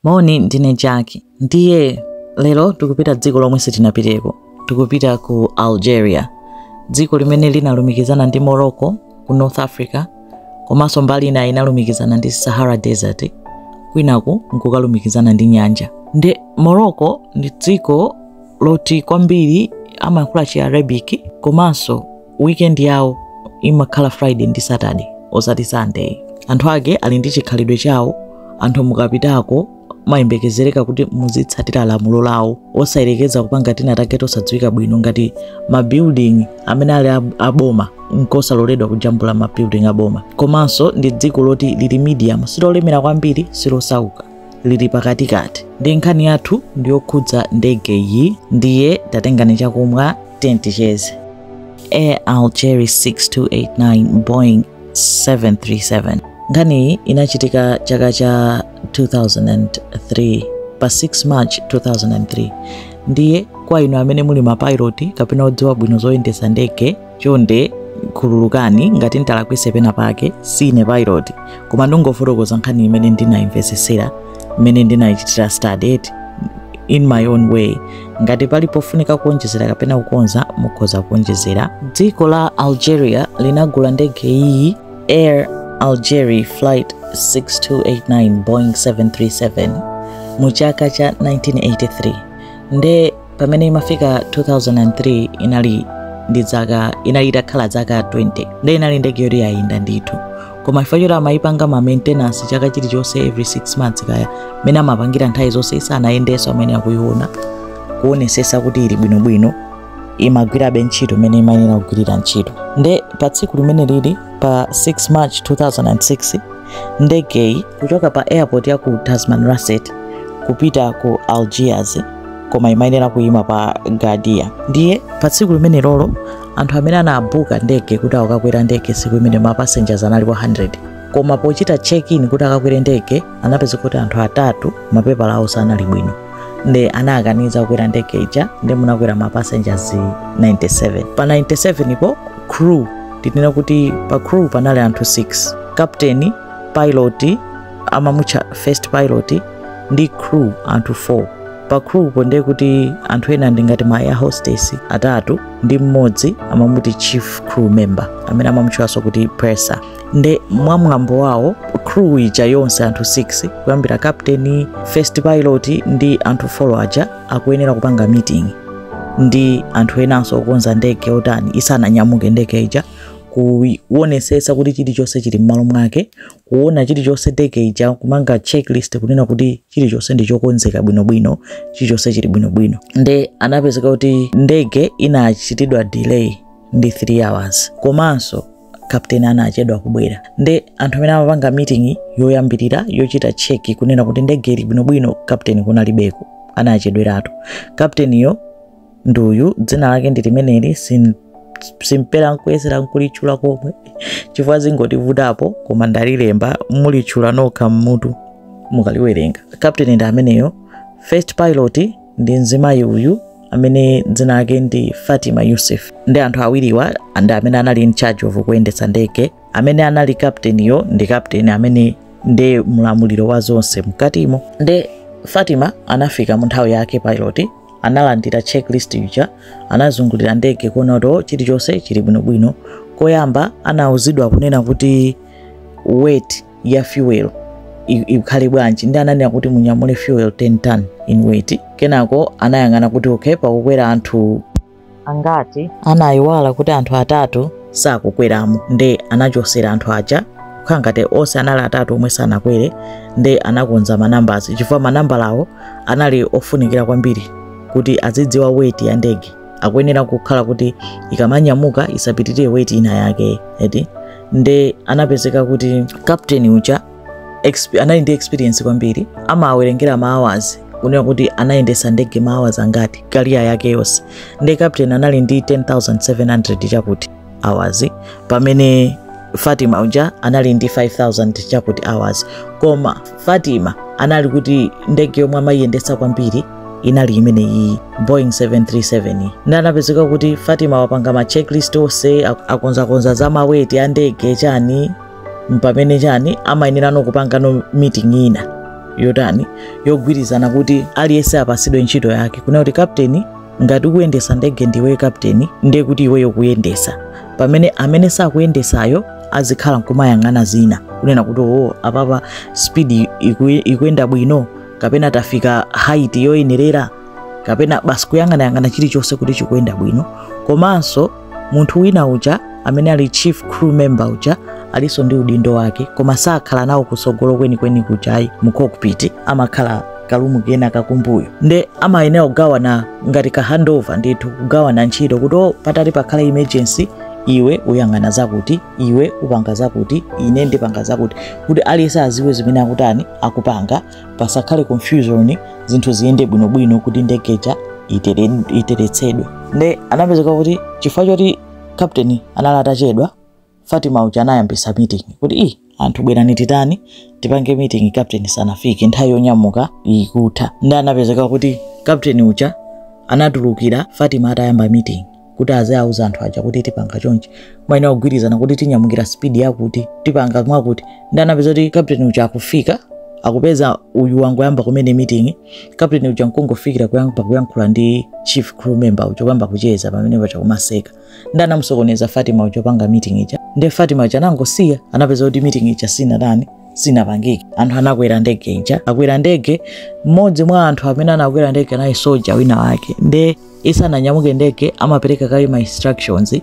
Moni, ndine Jack. Ndiye lero tikupita dziko lomwe sitinapiteko. Tikupita ku Algeria, dziko limene linalumikizana ndi Morocco ku North Africa, komanso mbali ina inalumikizana ndi Sahara Desert, kwinaku nkukalumikizana ndi nyanja. Ndi Morocco ndi dziko loti kwambiri amayankhula chi Arabic komanso weekend yawo imakhala friday ndi saturday osati sunday anthu ake ali ndi chikhalidwe chawo anthu mukapitako mayembekezereka kuti muzitsatira lamulo lawo osayerekeza kupanga tina take tosadziwika bwino ngati mabuilding amene ali aboma nkosaloledwa kujambula mabuilding aboma komanso ndi dziko loti lili medium silolemera kwambiri silosauka lili pakatikati ndi nkhani yathu ndiyokhudza ndegeyi ndiye tatengani chakumwa teni ticheze air algerie 6289 boeing 737 nkhaniyi inachitika chaka cha 2003 pa 6 march 2003 ndiye kwa inu amene muli mapilot kapena odziwa bwino zoyendesa ndege chonde khululukani ngati ntalakwitsa pena pake sine pilot koma ndingofotokoza nkhani imene ndinayimvesesera imene ndinayichitira study in my own way ngati pali pofunika kuonjezera kapena kukonza mukhoza kuonjezera dziko la algeria linagula ndege iyi air algerie flight 6289 boeing 737 mu chaka cha 1983 nde pamene imafika 2003 inali inali itakhala zaka 20 nde inali ndege yoti yayenda ndithu koma chifukwa choti amayipanga ma maintenance chaka chilichonse every 6 months kaya mmene amapangira nthawi zonse isanayendenso amene akuyiona kuonesesa kuti ili bwinobwino imagwirabe ntchito imene imayenera kugwirira ntchito nde pa tsiku limeneli pa 6 march 2006 ndegeyi kuchoka pa airport ya ku tamanrasset kupita ku algiers koma imayenera kuyima pa ghardaia ndiye pa tsiku limenelo anthu amene anabuka ndege kuti akakwera ndege tsiku imene ma passengers analipo 100 koma pochita check in kuti akakwere ndege anapezeka kuti anthu atatu mapepala awo sanali bwino nde anawakaniza kukwera ndege ija nde munakwera ma passengers 97 pa 97 po crew tinena kuti pa crew panali anthu 6 captain pilot amamutcha first pilot ndi crew anthu 4 pa crewpo ndiye kuti anthu ena ndi ngati ma air hostess atatu ndi mmodzi amamuti chief crew member amene amamutchwanso kuti purser nde mwa mwambo wawo crew ija yonse anthu 6 kuyambira captain first pilot ndi anthu 4 aja akuyenera kupanga meeting ndi anthu enanso okonza ndege otani isananyamuke ndege ija kuwonesesa kuti chilichonse chili m'malo mwake kuona chilichonse ndege ija kupanga checklist kunena kuti chilichonse ndi chokonzeka bwinobwino chilichonse chili bwinobwino nde anapezeka kuti ndege inachitidwa delay ndi 3 hours komanso kapteni anachedwa kubwera nde anthu amene amapanga meeting yoyambirira yochita cheki kunena kuti ndege ili bwinobwino kapteni kunalibeko anachedweratu kapteniyo ndi uyu dzina lake ndi limeneli sin- simpera nkuyesera nkulitchula komwe chifukwa zingotivutapo koma ndalilemba mulitchula nokha mmutu mukaliwerenga kapteni ndi ameneyo first pilot ndi mzimayi uyu amene dzina lake ndi fatima yusuf ndi anthu awiriwa ndi amene anali in charge of kuyendetsa ndege amene anali kapteniyo ndi kapteni amene ndi mlamuliro wa zonse mkatimo nde fatima anafika mu nthawi yake pilot analandira checklist ija anazungulira ndege kuona kuti oh, chilichonse chili bwinobwino koyamba anauzidwa kunena kuti weight ya fuel ikhale bwanji nde ananena kuti munyamule fuel 10 ton in weight kenako anayang'ana kuti okay pakukwera anthu angati anayiwala kuti anthu atatu sakukweramo nde anachosera anthu aja kukhala ngati onse anali atatu omwe sanakwere nde anakonza manambazi chifukwa manambalawo anali ofunikira kwambiri kuti azidziwa weti ya ndege ikuyenera kukhala kuti ikamanyamuka isapitirire weti ina yake eti nde anapezeka kuti kapteni uja anali ndi experience kwambiri amawerengera ma hours kunena kuti anayendesa ndege ma hours angati kariya yake yonse nde captain anali ndi 10700 chakuti hours pamene fatima uja anali ndi 5000 chakuti hours koma fatima anali kuti ndege yomwe amayiyendesa kwambiri inali imene iyi boeing 737 iyi nde anapezeka kuti fatima wapanga ma checklist onse akonzakonza za maweti a ndege chani mpamene chani amayenerano kupangano meeting ina yotani yogwirizana kuti aliyense apasidwe ntchito yake kunena kuti kapteni ngati ukuyendesa ndege ndiwe kapteni ndiye kuti iweyo kuyendesa pamene amene sakuyendesayo azikhala nkumayang'ana zina kunena kuti oo apapa speed iku- ikuyenda bwino kapena tafika height yoyenerera kapena basi kuyang'anayang'ana chilichonse kuti chikuyenda bwino komanso munthu wina uja amene ali chief crew member uja alinso ndi udindo wake koma sakhala nawo kutsogolo kwenikweni kujayi mu cockpit amakhala kalumu kena kakumbuyo nde amayenera kugawana ngati ka handover ndithu kugawana ntchito kuti o patati pakhale emergency iwe uyang'ana zakuti iwe upanga zakuti ine ndipanga zakuti kuti aliyense aziwe zimene akutani akupanga pasakhale confusion zinthu ziyende bwinobwino kuti ndegeja itere- iteretsedwe nde anapezeka kuti chifukwa choti captain anali atachedwa fatima uja anayambisa meeting kuti ii anthu bwerani titani tipange meeting captain sanafike nthawi yonyamuka ikutha nde anapezeka kuti captain uja anatulukira fatima atayamba meeting kuti aziauza anthu aja kuti tipanga chonchi maina kugwirizana kuti tinyamukira spidi yakuti tipanga mwakuti nde anapeza kuti kapteni uja akufika akupeza uyu wangoyamba kumene meeting kapteni uja nkungofikira kuyamba kuyankhula ndi chief crew member uja kuyamba kucheza pamene paja kumaseka nde anamusokoneza fatima uja panga meeting ija nde fatima uja anangosiya anapeza kuti meeting ija sinatani sinapangike anthu anakwera ndege ija akwera ndege mmodzi mwa anthu amene anakwera ndege anali soja wina wake nde isananyamuke ndege amapereka kaye ma instructions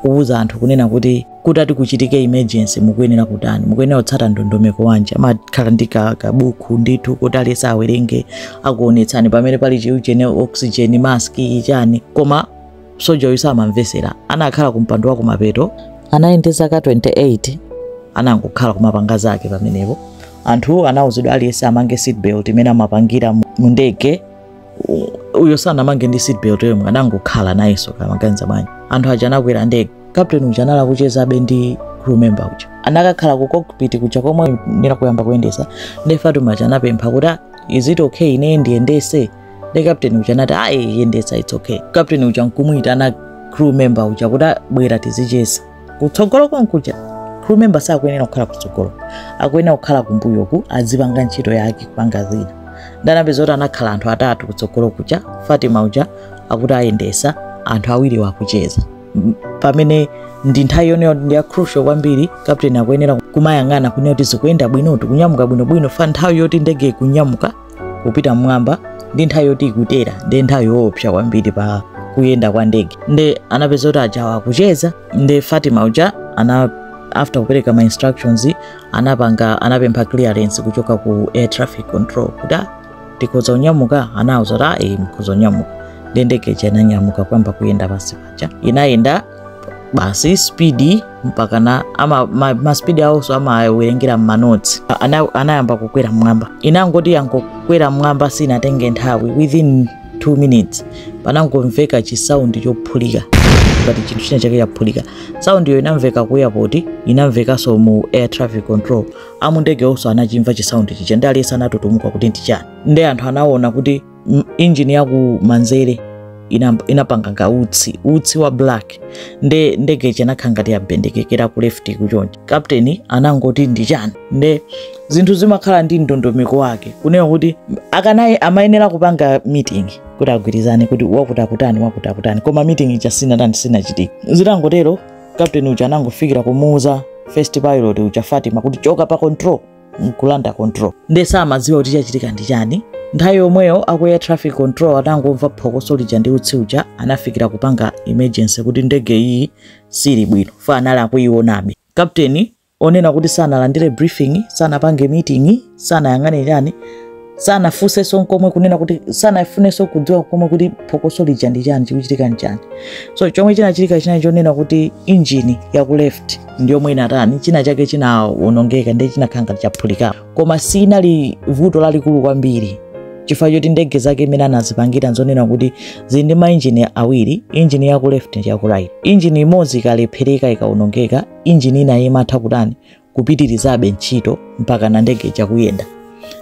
kuwuza anthu kunena kuti kutati kuchitike emergency mukuyenera kutani mukuyenera kutsata ndondomeko wanji amakhala ndi ka- kabuku ndithu kuti aliyense awerenge akuonetsani pamene pali chiujene oxygen mask chani koma soja uyu samamvesera anakhala ku mpando wa kumapeto anali ndi zaka 28 anangokhala kumapanga zake pamenepo anthu anawuzidwa aliyense amange seatbelt mmene amapangira mu- mu ndege uyo sanamange ndi seatbelt yomwe anangokhala nayenso kaya amaganiza bwanji anthu aja anakwera ndege captain uja anali akuchezabe ndi crew member uja anakakhala ku cockpit kuja komwe nde ili kuyamba kuyendesa nde fatima uja anapempha kuti "Ah, is it okay ine ndiyendese nde captain uja anati ayi yendesa it's okay captain uja nkumuyitana crew member uja kuti "Ah, bwera tizicheza kutsogolo konkuja crew member sakuyenera kukhala kutsogolo akuyenera kukhala kumbuyoku azipanga ntchito yake kupanga zina nde anapeza kuti anakhala anthu atatu kutsogolo kuja fatima uja akuti ayendesa anthu awiriwo akucheza pamene nthawi imeneyo ndi ya crucial kwambiri captain akuyenera kumayang'ana kunena kuti zikuyenda bwino tikunyamuka bwinobwino chifukwa nthawi yoti ndege ikunyamuka kupita mmwamba ndi nthawi yoti ikutera ndi nthawi yoopsa kwambiri pa kuyenda kwa ndege nde anapeza kuti ajawa akucheza nde fatima uja ana after kupereka ma instructions anapanga anapempha clearance kuchoka ku air traffic control kuti "Ah, tikhoza kunyamuka anauza kuti ayi mukhoza kunyamuka nde ndege ija inanyamuka kuyamba kuyenda pansi paja inayenda basi spidi mpakana ama ma, ma spidi awonso amawerengera mmanotsi a- ana- anayamba kukwera mmwamba inangoti yangokwera mmwamba sinatenge nthawi within 2 minutes panangomveka chisaundi chophulika ngati chinthu china chake chaphulika saundiyo inamveka ku airport inamvekanso mu air traffic control amundege onso anachimva chisaundi chija nde aliyense anatutumuka kuti ndi chani nde anthu anaona kuti m- injini ya ku manzere ina- inapanga ngati utsi utsi wa black nde ndege ija inakhala ngati yabendekekera ku left kuchonja kapteni anangoti ndi chani nde zinthu zimakhala ndi ndondomeko wake kunena kuti akanaye amayenera kupanga meeting kuti agwirizane kuti wakuti akutani wakuti akutani koma meeting ija sinatani sinachitike zitangotero kapteni uja anangofikira kumuuza first pilot uja fatima kuti choka pa control nkulanda control nde samadziwa kuti chachitika ndi chani nthawi yomweyo aku air traffic control atangomva phokoso lija ndi utsi uja anafikira kupanga emergency kuti ndege iyi sili bwino fa anali akuionabe kapteni onena kuti sanalandire briefing sanapange meeting sanayang'ane chani sanafunsenso nkomwe kunena kuti sanafunenso kudziwa komwe kuti phokoso lija ndi chani chikuchitika nchani so chomwe chinachitika chinali chonena kuti injini ya ku left ndi yomwe inatani china chake chinawonongeka nde chinakhala ngati chaphulika koma sinali vuto lalikulu kwambiri chifukwa choti ndege zake imene anazipangira nzonena kuti zili ndi mainjini awiri injini ya ku left ndi ya ku right injini imodzi ikalephereka ikawonongeka injini ina imatha kutani kupitirizabe ntchito mpakana ndege ija kuyenda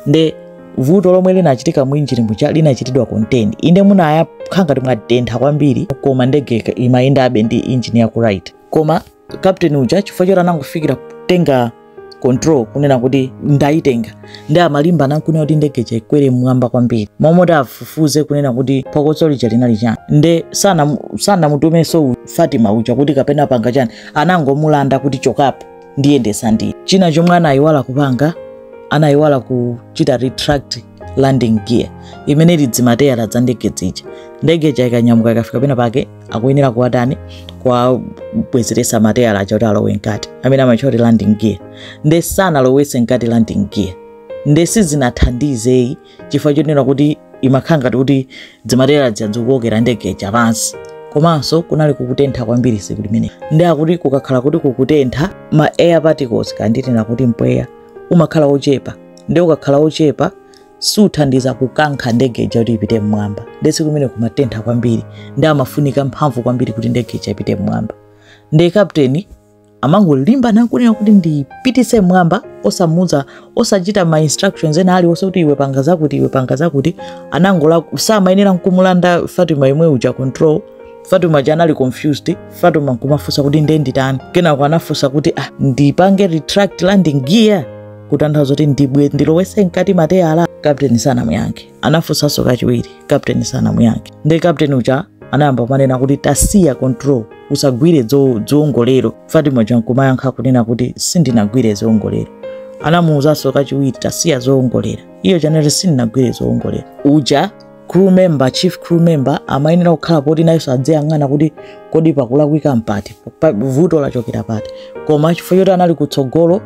nde vuto lomwe linachitika mu injini muja linachitidwa contain inde munakhala ngati mwatentha kwambiri koma ndege ika- imayendabe ndi injini ya ku right koma kapteni uja chifukwa choti anangofikira kutenga control kunena kuti ndayitenga nde amalimba nankunena kuti ndege ija ikwere mmwamba kwambiri moti afufuze kunena kuti phokoso lija linali chani nde sanamu- sanamutumenso u- fatima uja kuti kapena panga chani anangomulanda kuti chokapo ndiyendesa ndine china chomwe anayiwala kupanga anayiwala kuchita retract landing gear imene ili dzimateyala dza ndege dzija ndege ija ikanyamuka ikafika pena pake akuyenera kuwatani kuwabwezeresa mateyala aja kuti alowe mkati amene amatchula kuti landing gear nde sanalowese mkati landing gear nde sizinathandize chifukwa chonena kuti imakhala ngati kuti dzimateyala dzija dzikukokera ndege ija pansi komanso kunali kukutentha kwambiri tsiku limene nde akuti kukakhala kuti kukutentha ma air particles kaya ndinene kuti mpweya umakhala ochepa nde ukakhala ochepa suthandiza kukankha ndege ija kuti ipite mmwamba nde tsiku limene kumatentha kwambiri nde imafunika mphamvu kwambiri kuti ndege ija ipite mmwamba nde kapteni amangolimba nakunena kuti ndipitise mmwamba osamuuza osachita ma instructions ena aliwonse kuti iwe panga zakuti iwe panga zakuti anangola samayenera nkumulanda fatima yemwe uja control fatima uja anali confused fatima nkumafunsa kuti nde nditani kenako anafunsa kuti ah, ndipange retract landing gear kutanthauza kuti ndibwe ndilowese mkati mateyala kapteni sanamuyankhe anafunsanso kachiwiri captain sanamuyankhe ndi captain uja anayamba kumanena kuti tasiya control usagwire zo- zoongolera fatima uja nkumayankha kunena kuti sindinagwire zoongolera anamuwuzanso kachiwiri tasiya zoongolera iyo chanere sindinagwire zoongolera uja crew member chief crew member amayenera kukhala poti nayenso adziyang'ana kuti kodi pakulakwika mpati pa- vuto lachokera pati koma chifukwa choti anali kutsogolo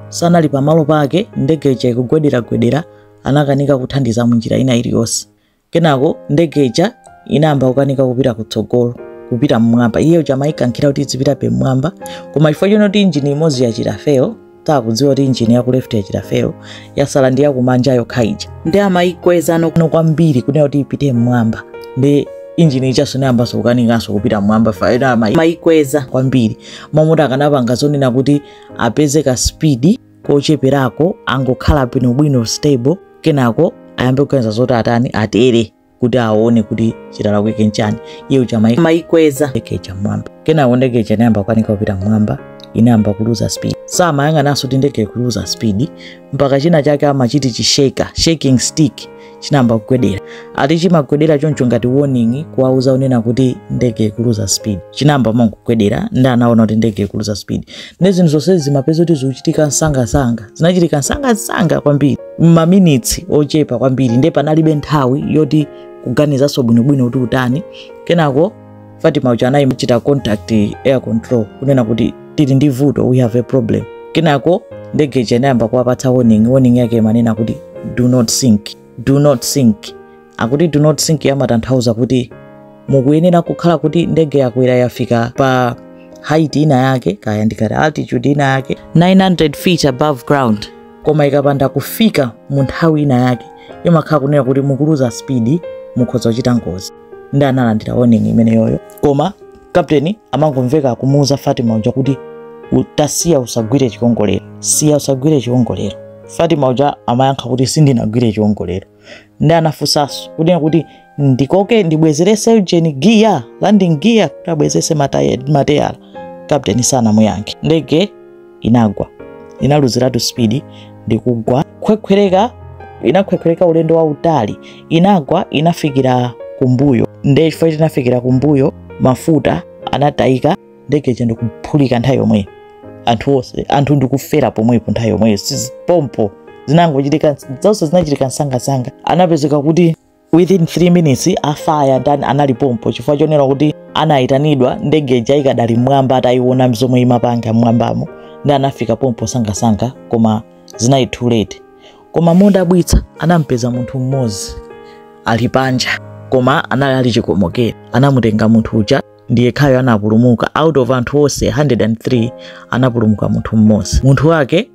sanali pamalo pake ndege ija ikugwederagwedera anakanika kuthandiza munjira ina iliyonse kenako ndege ija inayamba kukanika kupita kutsogolo kupita mmwamba iye uja amayikankhira kuti izipitabe mmwamba koma chifukwa choti injini imodzi yachita fail takudziwa kuti injini ya ku left yachita fail yasala ndi yakumanja yokha ija ndi amayikweza nokuno kwambiri kunena kuti ipite mmwamba ndi injini ijanso inayambanso kukanikanso kupita mmwamba fayo amayikweza kwambiri moti akanapanga zonena kuti apeze ka speed kocheperako angokhala bwinobwino stable kenako ayambe kuganiza zoti atani atere kuti aone kuti chitalakwike nchani iye uja mai- amaikweza ndege ija mmwamba kenako ndege ija inayamba kukanika kupita mmwamba inayamba kuluza speed samayang'ananso kuti ndege ikuluza speed mpaka china chake amachiti chi shake shaking stick chinayamba kugwedera ati chimagwedera choncho ngati warning kuwauza kunena kuti ndege ikuluza speed chinayamba kumangogwedera ndi anaona kuti ndege ikuluza speed ndi zinthu zonse zimapezeka kuti zikuchitika msangasanga zinachitika msangasanga kwambiri maminitsi ochepa kwambiri ndiye panalibe nthawi yoti kuganizanso bwinobwino kuti utani kenako fatima uja anayichita contact air control kunena kuti tili ndi vuto we have a problem kenako ndege ija inayamba kuwapatsa warning warning yake imanena kuti do not sink do not sink akuti do not sink imatanthauza kuti mukuyenera kukhala kuti ndege yakwera yafika pa height ina yake kaya ndi kuti altitude ina yake 900 feet above ground koma ikapanda kufika mu nthawi ina yake imakhala kunena kuti mukuluza speed mukhoza kuchita ngozi ndi analandira warning imeneyoyo koma captain amangomveka akumuuza fatima uja kuti "U- tasiya usagwire chiwongolero siya usagwire chiwongolero fatima uja amayankha kuti sindinagwire chiwongolero ndi anafunsanso kunena kuti ndikoke ndibwezerese engine gear landing gear kuti abwezerese mateya- mateyala captain sanamuyankhe ndege inagwa inaluziratu speed ndi kugwa khwekhwereka inakhwekhwereka ulendo wautali inagwa inafikira kumbuyo nde chifukwa choti inafikira kumbuyo mafuta anatayika ndege ija ndikuphulika nthawi yomweyo anthu onse anthu ndikufera pomwepo nthawi yomweyo si pompo zinangochitika zonse zinachitika msangasanga anapezeka kuti within 3 minutes afaya ndani anali pompo chifukwa chonena kuti anayitanidwa ndege ija ikadali mmwamba atayiona zomwe imapanga mmwambamo ndi anafika pompo msangamsanga koma zinali too late koma modabwitsa anampeza munthu mmodzi ali panja koma anali ali chikomokere anamutenga munthu uja ndi yekhayo anapulumuka out of anthu onse 103 anapulumuka munthu mmodzi munthu wake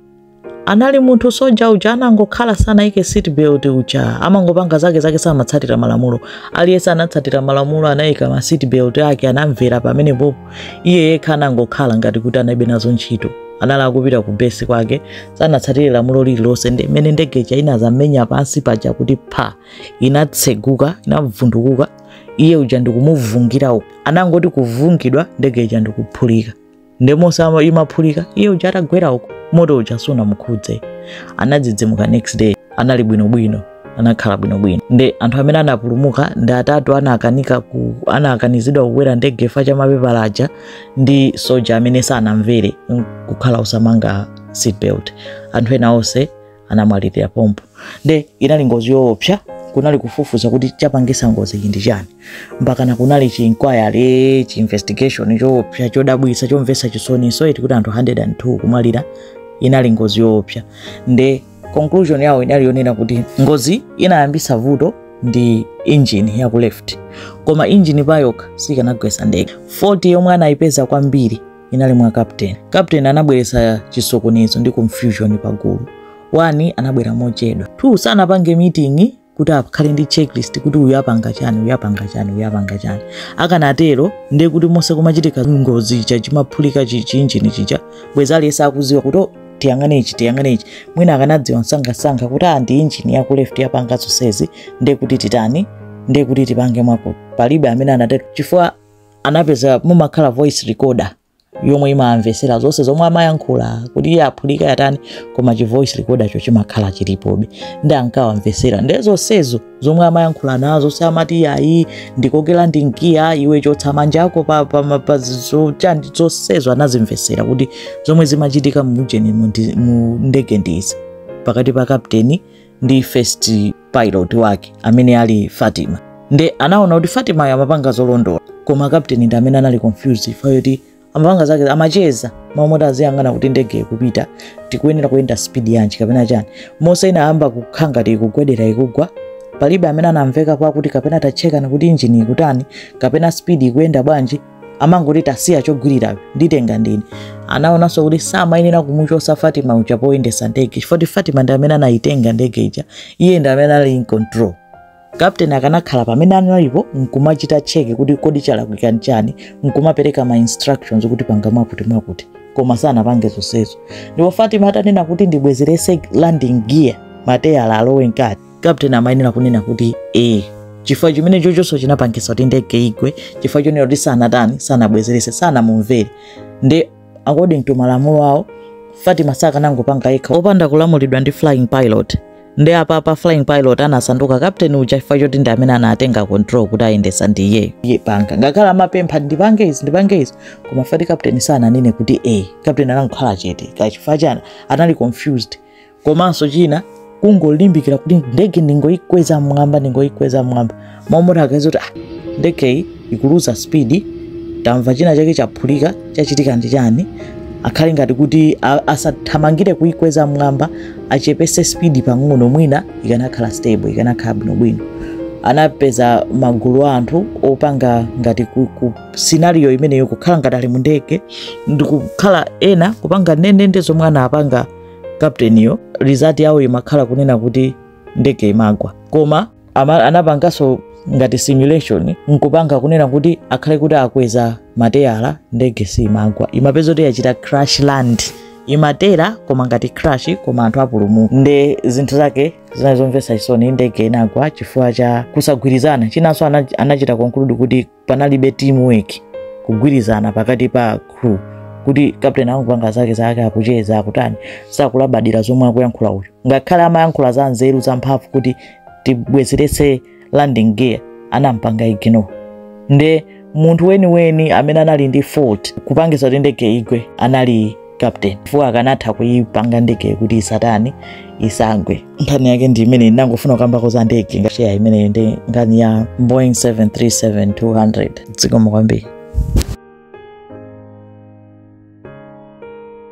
anali munthu soja uja anangokhala sanayike seat belt uja amangopanga zake zake samatsatira malamulo aliyense anatsatira malamulo anayika ma seat belt ake anamvera pamenepopo iye yekha anangokhala ngati kuti analibe nazo ntchito anali akupita ku besi kwake sanatsatire lamulo lililonse ndi mmene ndege ija inazamenya pansi paja kuti pha inatseguka inavundukuka iye uja ndikumuvungira uku anangoti kuvungidwa ndege ija ndikuphulika nde monse ama- imaphulika iye uja atagwera uko moto uja sunamukhudze anadzidzimuka next day anali bwinobwino anakhala bwinobwino nde anthu amene anapulumuka ndi atatu anakanika ku anakanizidwa kukwera ndege chifukwa cha mapepala aja ndi soja amene sanamvere mm, kukhala osamanga seatbelt anthu ena onse anamwalirira pompo nde inali ngozi yoopsa kunali kufufuza kuti chapangisa ngozi iyi ndi chani mpakana kunali chiinquiry chiinvestigation choopsa chodabwisa chomvesa chisoni zoti kuti anthu 102 kumwalira inali ngozi yoopsa nde conclusion yawo inali yonena kuti ngozi inayambisa vuto ndi engine ya ku left koma engine payokha sikanagwesa ndege fault yomwe anayipeza kwambiri inali mwa kapteni kapteni anabweretsa chisokonezo ndi confusion pagulu wani anabwera mochedwa two sanapange meeting kuti akhale ndi checklist kuti uyu apanga chani uyu apanga chani uyu apanga chani akanatero ndiye kuti monse kumachitika ngozi ija chimaphulika chiinjini chija bwezi aliyense akuziwa kuti "Oh, tiyang'ane ichi tiyang'ane ichi mwina akanadziwa msangamsanga kuti ah, ndi injini yaku left yapanga zonsezi ndiye kuti titani ndiye kuti tipange mwakuti palibe amene anatero chifukwa anapeza mumakhala voice recorder yomwe imamvesera zonse zomwe amayankhula kuti iyo yaphulika yatani koma chi voice recorder cho chimakhala chilipobe ndi ankawamvesera nde zonsezo zomwe amayankhula nazo zonse amati ayi ndikokera ndi mgiya iwe chotsa manja ako pa, pa, pa, pa zo- chani zonsezo anazimvesera kuti zomwe zimachitika mu ujeni mu ndi- mu ndege ndizi pakati pa kapteni ndi first pilot wake amene ali fatima nde anaona kuti fatimayo amapanga zolondola koma kapteni ndi amene anali confused chifukwa choti amapanga zake amacheza mmalo moti aziyang'ana kuti ndege ikupita tikuyenera kuyenda speed yanji kapena chani monse inayamba kukhala ngati ikugwedera ikugwa palibe amene anamvekapo akuti kapena tatchekani kuti injini ikutani kapena speed ikuyenda bwanji amangoti tasiya chogwirirayo nditenge ndine anaonanso kuti samayenera kumuchosa fatima uja poyendesa ndege chifukwa fatima ndi amene anayitenga ndege ija iye ndi amene anali in control kapteni akanakhala pamene analipo nkumachita cheke kuti kodi chalakwika nchani nkumapereka ma instructions kuti panga mwakuti mwakuti koma sanapange zonsezo ndipo fatima atanena kuti ndibwezerese landing gear mateyala alowe mkati kapteni amayenera kunena kuti ee chifukwa chimene chochonso chinapangitsa kuti ndege igwe chifukwa chonena kuti sanatani sanabwezerese sanamumvere nde according to malamulo awo fatima sakanangopanga yekha opanda kulamulidwa ndi flying pilot nde apa pa flying pilot anasanduka kapteni uja chifukwa choti ndi amene anatenga control kuti ayendesa ndi iyeyo iye panga ngakhale amapempha ndipange izi ndipange izi koma fati kapteni sananene kuti e kapteni anangokhala chete kachifukwa chani anali confused komanso china kungolimbikira kuti ndege ndingoikweza mmwamba ndingoikweza mmwamba mmalo moti akadziti ah, ndegeyi ikuluza spidi tamva china chake chaphulika chachitika ndi chani akhale ngati kuti a- asathamangire kuikweza mmwamba achepese spidi pang'ono mwina ikanakhala stable ikanakhala bwinobwino anapeza magulu a anthu opanga ngati ku, ku scenario imeneyo kukhala ngati ali mu ndege ndikukhala ena kupanga ndendende zomwe anapanga kapteniyo result yawo imakhala kunena kuti ndege imagwa koma ama- anapanganso ngati simulation nkupanga kunena kuti akhale kuti akweza mateyala ndege simagwa imapezeka kuti yachita crash land imatera koma ngati crash koma anthu apulumuka nde zinthu zake zinali zomvetsa chisoni ndege inagwa chifukwa cha kusagwirizana chinanso ana- anachita conclude kuti panalibe teamwork kugwirizana pakati pa crew kuti captain akungopanga zake zake akucheza akutani sakulabadira zomwe akuyankhula uyu ngakhale amayankhula za nzeru za mphamvu kuti tibwezeretse landing gear anampanga ignore nde munthu weniweni amene anali ndi fault kupangisa kuti ndege igwe anali captain chifukwa akanatha kuipanga ndege kuti isatani isagwe nkhani yake ndi imeneyi ndinangofuna kukamba ko za ndege ngasheya imeneyo ndi nkhani ya boeing 737-200 dzikomo kwambiri